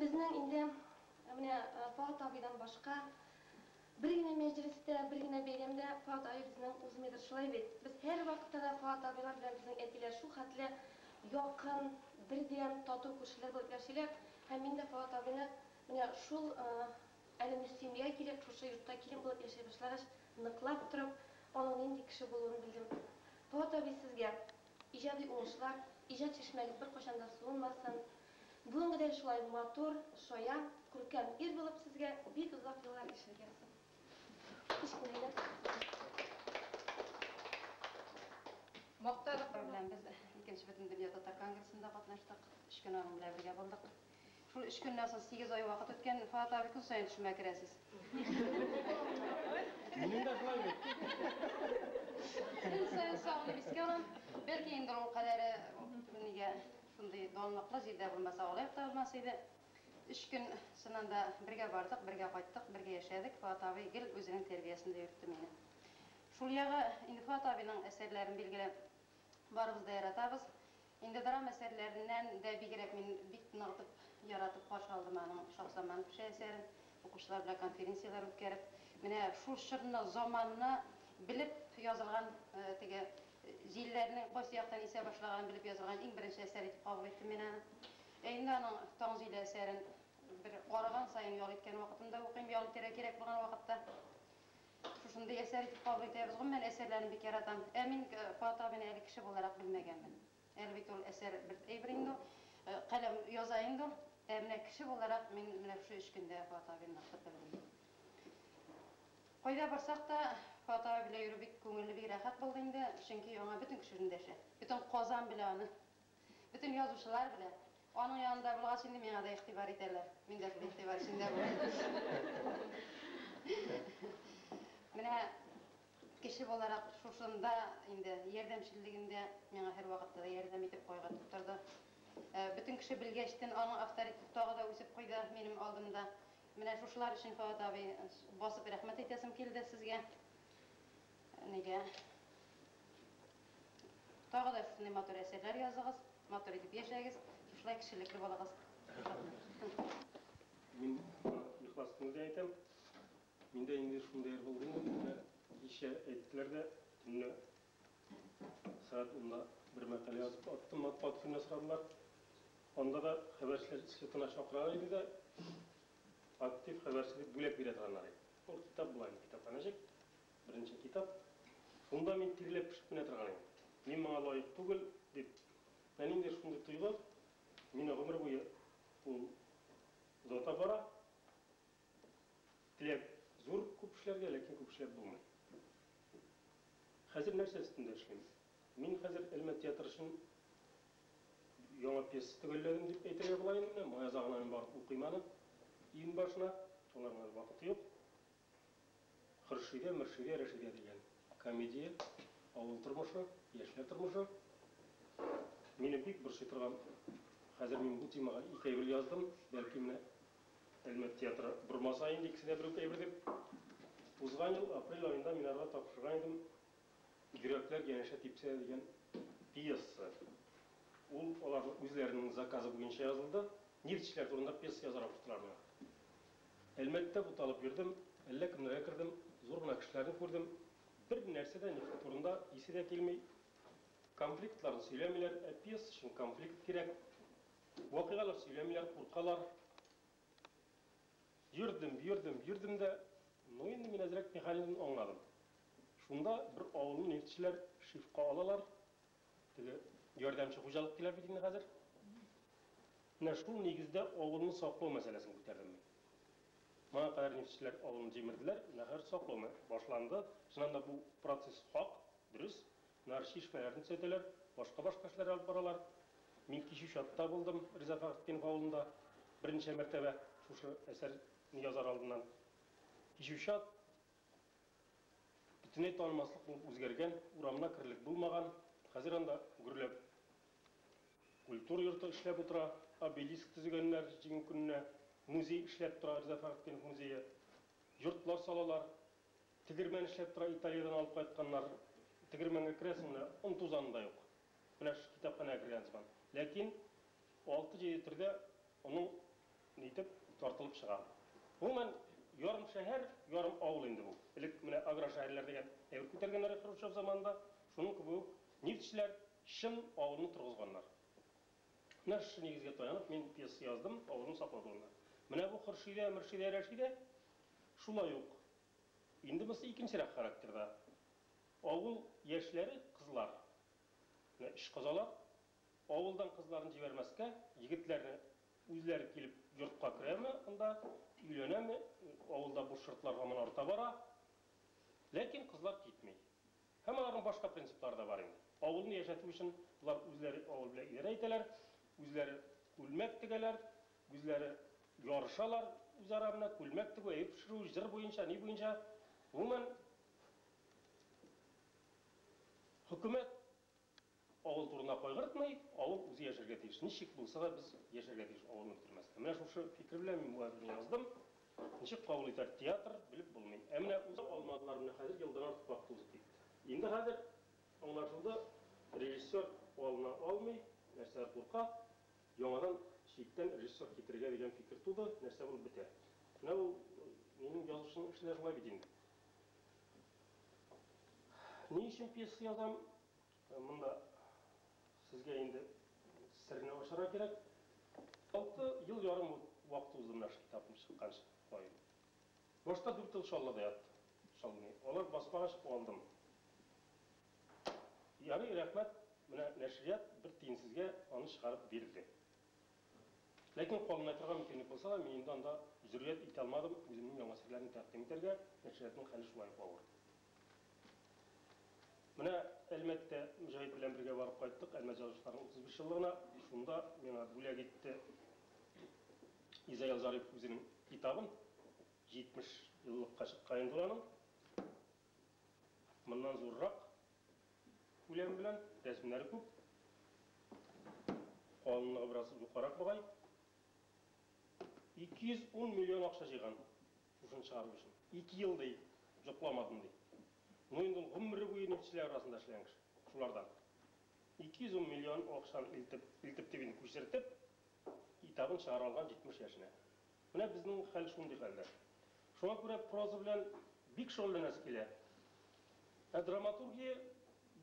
Безнең инде менә Фоат абыйдан башка бер генә мәҗлестә, бер генә бәйрәмдә Фоат абый безнең узмыйдыр, шулай бит? Без һәрвакытта да Фоат абыйлар белән безнең әтиләр шул хәтле якын, бердәм, тату күршеләр булып яшиләр. Һәм мин дә Фоат абыйны менә шул әле Мөслимиягә килеп, шушы йортта килен булып яшәй башлагач, ныклап торып, аның нинди кеше булуын белдем. Фоат абый, сезгә иҗади уңышлар, иҗат чишмәгез беркайчан да суынмасын! Бүгенгедәй шулай матур, шаян, күркәм ир булып сезгә бик озак еллар яшәргә язсын. Кечкенә генә Мактадык бар белән без икенче Бөтендөнья татар конгрессында катнаштык. Өч көн аның белән бергә булдык. Шул өч көннән соң сигез ай вакыт үткән, Фоат абый көн саен төшемә керәсез. Минем дә шулай бит. Көн саен сагынып искә алам. Бәлки инде ул кадәре нигә Шундый данлыклы җирдә булмаса, алай ук та булмас иде. Өч көн, чыннан да, бергә бардык, бергә кайттык, бергә яшәдек. Фоат абый гел үзенең тәрбиясендә йөртте мине. Шул ягы, инде Фоат абыйның әсәрләрен, билгеле, барыбыз да яратабыз. Инде драма әсәрләреннән дә бигрәк мин бик ныгытып, яратып каршы алдым аның Шаһзаман кеше әсәрен, укучылар белән конференцияләр үткәреп. Менә шул чорны, заманны белеп язылган теге Җилләрнең кайсы яктан исә башлаганын белеп язылган иң беренче әсәр итеп кабул иттем мин аны. Өемдә аның Таң җиле әсәрен бер арыган саен ял иткән вакытымда укыйм, ял итәргә кирәк булган вакытта. Шушындый әсәр итеп кабул итәбез. Гомумән, әсәрләрен бик яратам. Ә мин Фоат абыйны әле кеше буларак белмәгәнмен. Әле бит ул әсәр бер әйбер инде ул. Каләм яза инде ул. Ә менә кеше буларак мин менә шушы өч көндә Фоат абыйны нык итеп белдем. Кайда барсак та, Фоат абый белән йөрү бик күңелле, бик рәхәт булды инде, чөнки аңа бөтен кеше эндәшә. Бөтен Казан белә аны. Бөтен язучылар белә. Аның янында булгач, инде миңа да игътибар итәләр. Мин дә шул игътибар эчендә булам. Менә кеше буларак шушында инде ярдәмчеллегендә миңа һәрвакытта да ярдәм итеп, кайгыртып торды. Бөтен кеше белгәчтен, аның авторитеты тагы да үсеп куйды минем алдымда. Менә шушылар өчен Фоат абый басып рәхмәт әйтәсем килде сезгә. Нигә? Тагы да шушындый матур әсәрләр языгыз, матур итеп яшәгез, шушылай кешелекле булыгыз. Мин ихлас күңелдән әйтәм, миндә инде шундый роль булмый, кичә әйттеләр дә, төнлә Сәгать унда бер мәкалә язып аттым, матбугат көненә сорадылар. Анда да хәбәрчеләр слетына чакыралар иде дә, актив хәбәрче дип бүләк бирә торганнар иде. Ул китап була инде, китапханәчек, беренче китап. Шунда мин тирләп-пешеп менә торган идем. Мин моңа лаек түгел, дип. Менә ниндидер шундый тойгы мине гомер буе ул озата бара. Теләк зур күп эшләргә, ләкин күп эшләп булмый. Хәзер нәрсә өстендә эшлим? Мин хәзер Элмә театры өчен яңа пьеса төгәлләдем дип әйтергә була инде менә, май азагына мин барып укыйм аны, июнь башына, алар белән вакыты юк. Хөршидә, Мөршидә, Рәшидә дигән комедия, авыл тормышы, яшьләр тормышы. Мине бик борчый торган, хәзер мин бу темага ике әйбер яздым, бәлки менә Әлмәт театры бормаса инде икесе дә бер үк әйбер дип. Узган ел апрель аенда мин аларга тапшырган идем Йөрәкләр янәшә типсә дигән пьеса. Ул аларның үзләренең заказы буенча язылды. Нефтьчеләр турында пьеса язарга куштылар миңа. Әлмәттә буталып йөрдем, әллә кемнәргә кердем, зур гына кешеләрне күрдем. Бер нәрсә дә нефть турында исе дә килми. Конфликтларны сөйләмиләр, ә пьеса өчен конфликт кирәк. Вакыйгалар сөйләмиләр, куркалар. Йөрдем, йөрдем, йөрдем дә, ну инде мин әзрәк механизмны аңладым. Шунда бер авылны нефтьчеләр шифка алалар, теге ярдәмче хуҗалык диләр бит инде хәзер. Менә шул нигездә авылны саклау мәсьәләсен күтәрдем мин. Моңа кадәр нефтьчеләр авылны җимерделәр, менә хәзер саклау башланды. Чыннан да бу процесс хак, дөрес. Нарчи эшмәләрен төзәтәләр, башка-башка эшләр алып баралар. Мин кичү чатта булдым Риза Фәхретдинов авылында берничә мәртәбә, шушы әсәрне язар алдыннан. Кичү чат бөтенләй танылмаслык булып үзгәргән, урамына керерлек булмаган, хәзер анда гөрләп культура йорты эшләп утыра, обелиск төзегәннәр Җиңү көненә, музей эшләп тора, Риза Фәхретдинов музее, йортлар салалар, Тегермән эшләп тора, Италиядән алып кайтканнар. Тегермәнгә керәсең, менә он тузаны да юк. Менә шушы китапханәгә кергән сыман. Ләкин алты-җиде төрдә онын нитеп тартылып чыга. Гомумән, ярым шәһәр, ярым авыл инде бу. Элек менә аграр шәһәрләр дигән әйбер күтәргәннәр иде Хрущев заманында. Шуның кебек үк нефтьчеләр чын авылны торгызганнар. Менә шушы нигезгә таянып, мин пьеса яздым, авызым саклау турында. Менә бу Хөршидә, Мөршидә, Рәшидә, шулай ук. Инде монысы икенчерәк характерда. Авыл яшьләре, кызлар, менә эш козалар, авылдан кызларын җибәрмәскә, егетләрне үзләре килеп йортка керәме анда, өйләнәме, авылда буш йортлар һаман арта бара, ләкин кызлар китми. Һәм аларның башка принциплары да бар инде. Авылны яшәтү өчен болар үзләре авыл белән идарә итәләр, үзләре күлмәк тегәләр, үзләре ярышалар үзара менә, күлмәк тегү, әйбер пешерү, җыр буенча, ни буенча. Гомумән, хөкүмәт Авыл турына кайгыртмый, авыл үзе яшәргә тиеш. Ничек булса да без яшәргә тиеш, авылны бетермәстән. Менә шушы фикер белән мин бу әсәрне яздым. Ничек кабул итәр театр, белеп булмый. Ә менә уза алмадылар, менә хәзер елдан артык вакыт узып китте. Инде хәзер аңлашылды, режиссер алына алмый, нәрсә, курка. Яңадан читтән режиссер китерергә дигән фикер туды, нәрсә булып бетәр. Менә ул минем язучының эше дә шулай бит инде. Ни өчен пьеса язам? Монда сезгә инде серне ачарга кирәк. Алты ел ярым вакыт узды менә шул китапым чыкканчы каен. Башта дүрт ел чаллыда яттым. Чаллы. Алар басмага чыгып алдым. Ярый, рәхмәт, менә нәшрият бер тиенсезгә аны чыгарып бирде. Ләкин калынмый торган мөмкинлек булса да, мин инде анда җөрьәт итә алмадым, үземнең яңа серләрне тәкъдим итәргә, нәшриятның хәле шулай ук авыр. Менә Әлмәттә Мөҗәһит белән бергә барып кайттык, Әлмәт язучыларының 35 еллыгына, шунда миңа бүләк итте Изаил Зарипов үзенең китабын, 70 еллыкка чыккан инде ул аның. Моннан зуррак Күләме белән, рәсемнәре күп. Калынлыгы бераз юкарак бугай. 210 миллион акча җыйган шушыны чыгару өчен. Ике ел, ди, йокламадым, ди. Ну, инде ул гомере буе нефтьчеләр арасында эшләгән кеше, шулардан. 210 миллион акчаны илтеп, илтеп дип инде, күчертеп, китабын чыгара алган 70 яшенә. Менә безнең хәл шундый хәлдә. Шуңа күрә проза белән бик шөгыльләнәсе килә. Ә драматургия,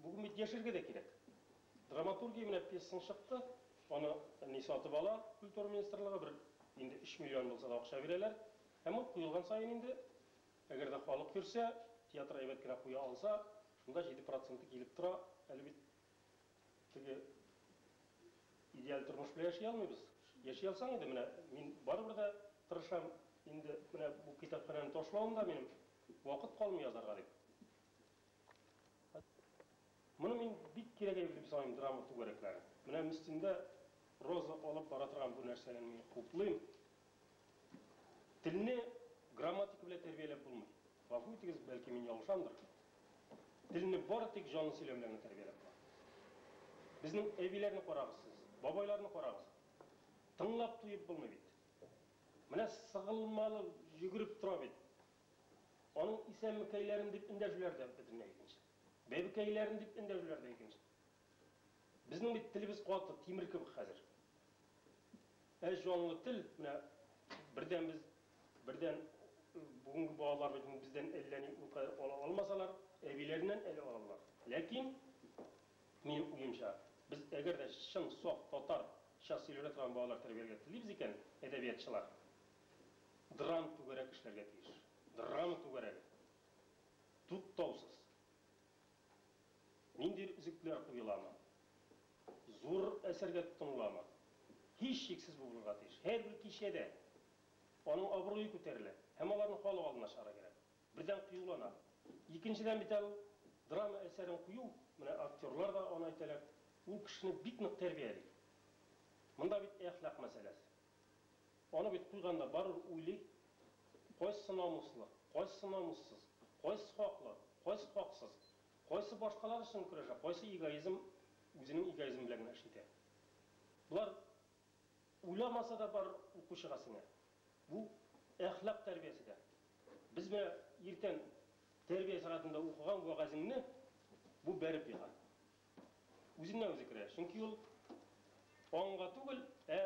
бүген бит яшәргә дә кирәк. Драматургия, менә пьесаң чыкты, аны ни сатып ала культура министрлыгы, бер инде өч миллион булса да акча бирәләр. Һәм ул куелган саен инде, әгәр дә халык йөрсә, театр әйбәт кенә куя алса, шунда җиде проценты килеп тора. Әле бит Теге идеаль тормыш белән яши алмыйбыз. Яши алсаң иде, менә мин барыбер дә тырышам, инде менә бу китапханәне ташлавым да минем, вакыт калмый язарга дип. Моны мин бик кирәгәе дип саныйм драма түгәрәкләре. Менә Мстиндә Роза алып бара торган бу нәрсәне мин хуплыйм. Телне грамматика белән тәрбияләп булмый. Гафу итегез, бәлки мин ялгышамдыр. Телне бары тик җанлы сөйләм белән генә тәрбияләп була. Безнең әбиләрне карагыз сез, бабайларны карагыз. Тыңлап туеп булмый бит. Менә сыгылмалы йөгереп тора бит. Аның исәнмекәйләрен дип эндәшүләр дә бөтенләй икенче. Бәбекәйләрен дип эндәшүләр дә икенче. Безнең бит телебез каты, тимер кебек хәзер. Ә җанлы тел, менә бердән без, бердән бүгенге балалар бит бездән әллә ни никадәр ала алмасалар, әбиләреннән әле алалар. Ләкин, минем уемча, без әгәр дә чын саф татарча сөйләнә торган балалар тәрбияләргә телибез икән, әдәбиятчылар драм түгәрәк эшләргә тиеш. Драма түгәрәге. Туктаусыз. Нинди өзекләр уеламы? Зур әсәргә тотынуламы? Һичшиксез бу булырга тиеш. Һәрбер кичәдә аның абруе күтәрелә һәм аларны халык алдына чыгарга кирәк. Бердән, кыюлана. Икенчедән бит әле ул драма әсәрен кую, менә актерлар да аны әйтәләр, ул кешене бик нык тәрбияли. Монда бит әхлак мәсьәләсе. Аны бит куйганда барыбер уйлый, кайсы намуслы, кайсы намуссыз, кайсы хаклы, кайсы хаксыз, кайсы башкалар өчен көрәшә, кайсы эгоизм үзенең эгоизмы белән генә эш итә. Болар уйламаса да барыр укучыга сеңә. Бу әхлак тәрбиясе дә. Без менә иртән тәрбия сәгатендә укыган вәгазеңне бу бәреп ега. үзеннән-үзе керә, чөнки ул аңга түгел, ә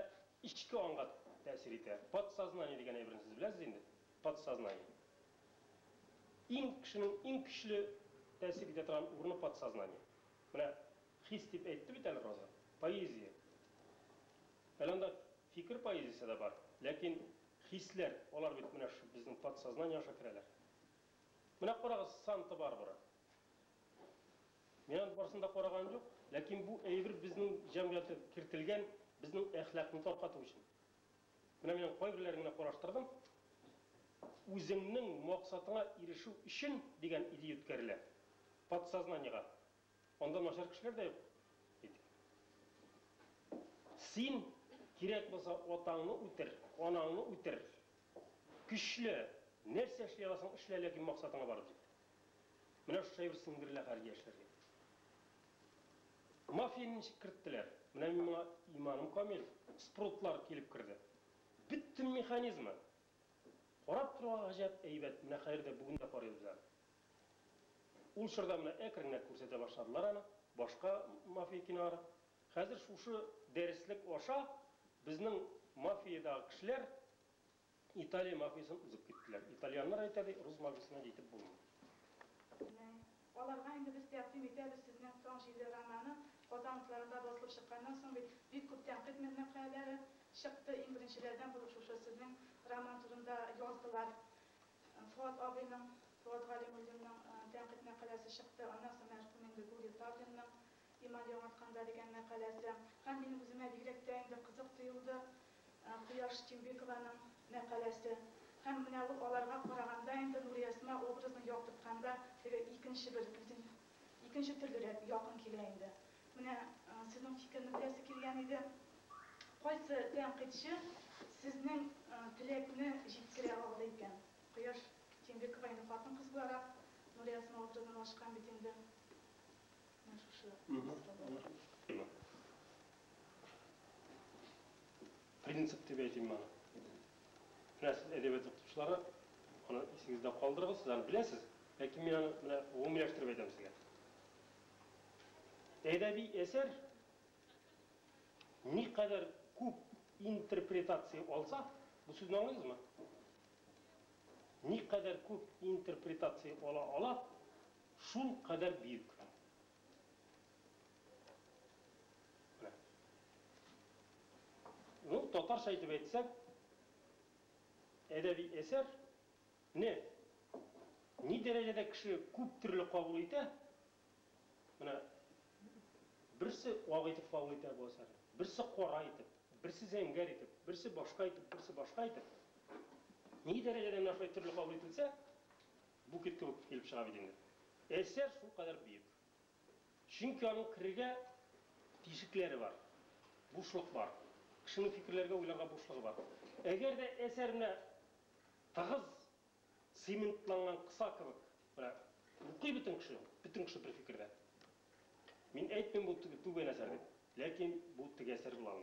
эчке аңга тәэсир итә. Подсознание дигән әйберне сез беләсез инде, подсознание. Иң кешенең иң көчле тәэсир итә торган урыны подсознание. Менә хис дип әйтте бит әле Роза, поэзия. Әле анда фикер поэзиясе дә бар, ләкин хисләр, алар бит менә шушы безнең подсознание аша керәләр. Менә карагыз Санта-Барбара. Мин аның барысын да караган юк, ләкин бу әйбер безнең җәмгыятькә кертелгән безнең әхлакны таркату өчен. Менә мин аның кайберләрен генә караштырдым. Үзеңнең максатыңа ирешү өчен дигән идея үткәрелә. Подсознаниегә. Анда начар кешеләр дә юк, әйтик. Син, кирәк булса, атаңны үтер, анаңны үтер. Көчле, нәрсә эшли аласың, эшлә, ләкин максатыңа барып җит. Менә шушы әйбер сеңдерелә хәзер яшьләргә. Мафияне ничек керттеләр? Менә мин моңа иманым камил. Спрутлар килеп керде. Бөтен механизмы! Карап торуга гаҗәп әйбәт, менә хәзер дә, бүген дә карыйбыз без аны. Ул чорда менә әкренрәк күрсәтә башладылар аны, башка мафия кинолары. Хәзер шушы дәреслек аша безнең мафиядагы кешеләр Италия мафиясен узып киттеләр. Итальяннар әйтә ди, рус мафиясенә җитеп булмый. Менә аларга инде без тәкъдим итәбез сезнең Таң җилле романы. Казан утларында басылып чыкканнан соң бит бик күп тәнкыйть мәкаләләре чыкты. Иң беренчеләрдән булып шушы сезнең роман турында яздылар. Фоат абыйның, Фоат Галимуллинның тәнкыйть мәкаләсе чыкты. Аннан соң мәрхүм инде Гурий Тавринның Иман яңартканда дигән мәкаләсе һәм минем үземә бигрәк тә инде кызык тоелды Кояш Тимбекованың мәкаләсе. Һәм менә ул аларга караганда инде Нуриәсма образын яктыртканда теге икенче бер бөтен икенче төрлерәк якын килә инде. Менә сезнең фикерне беләсе килгән иде. Кайсы тәнкыйтьче сезнең теләкне җиткерә алды икән? Кояш Тимбекова инде хатын-кыз буларак Нуриәсма образын ачкан бит инде. Принцип дип әйтим моны. Менә сез әдәбият укытучылары, аны исегездә калдырыгыз, сез аны беләсез, ләкин мин аны менә гомумиләштереп әйтәм сезгә. Әдәби әсәр никадәр күп интерпретация алса, бу сүзне аңлыйсызмы? Никадәр күп интерпретация ала ала, Шул кадәр бөек. Менә. Ну, татарча итеп әйтсәк, әдәби әсәр не ни дәрәҗәдә кеше күп төрле кабул итә, менә берсе ак итеп кабул итә бу әсәрне, берсе кара итеп, берсе зәңгәр итеп, берсе башка итеп, берсе башка итеп, ни дәрәҗәдә менә шулай төрле кабул ителсә, Букет кебек килеп чыга бит инде. Әсәр шулкадәр бөек. Чөнки аның керергә тишекләре бар. Бушлык бар. Кешенең фикерләргә, уйларга бушлыгы бар. Әгәр дә әсәр менә тыгыз цементланган кыса кебек, менә укый бөтен кеше, бөтен кеше бер фикердә. Мин әйтмим бу түбән әсәр дип, ләкин бу теге әсәр була алмый.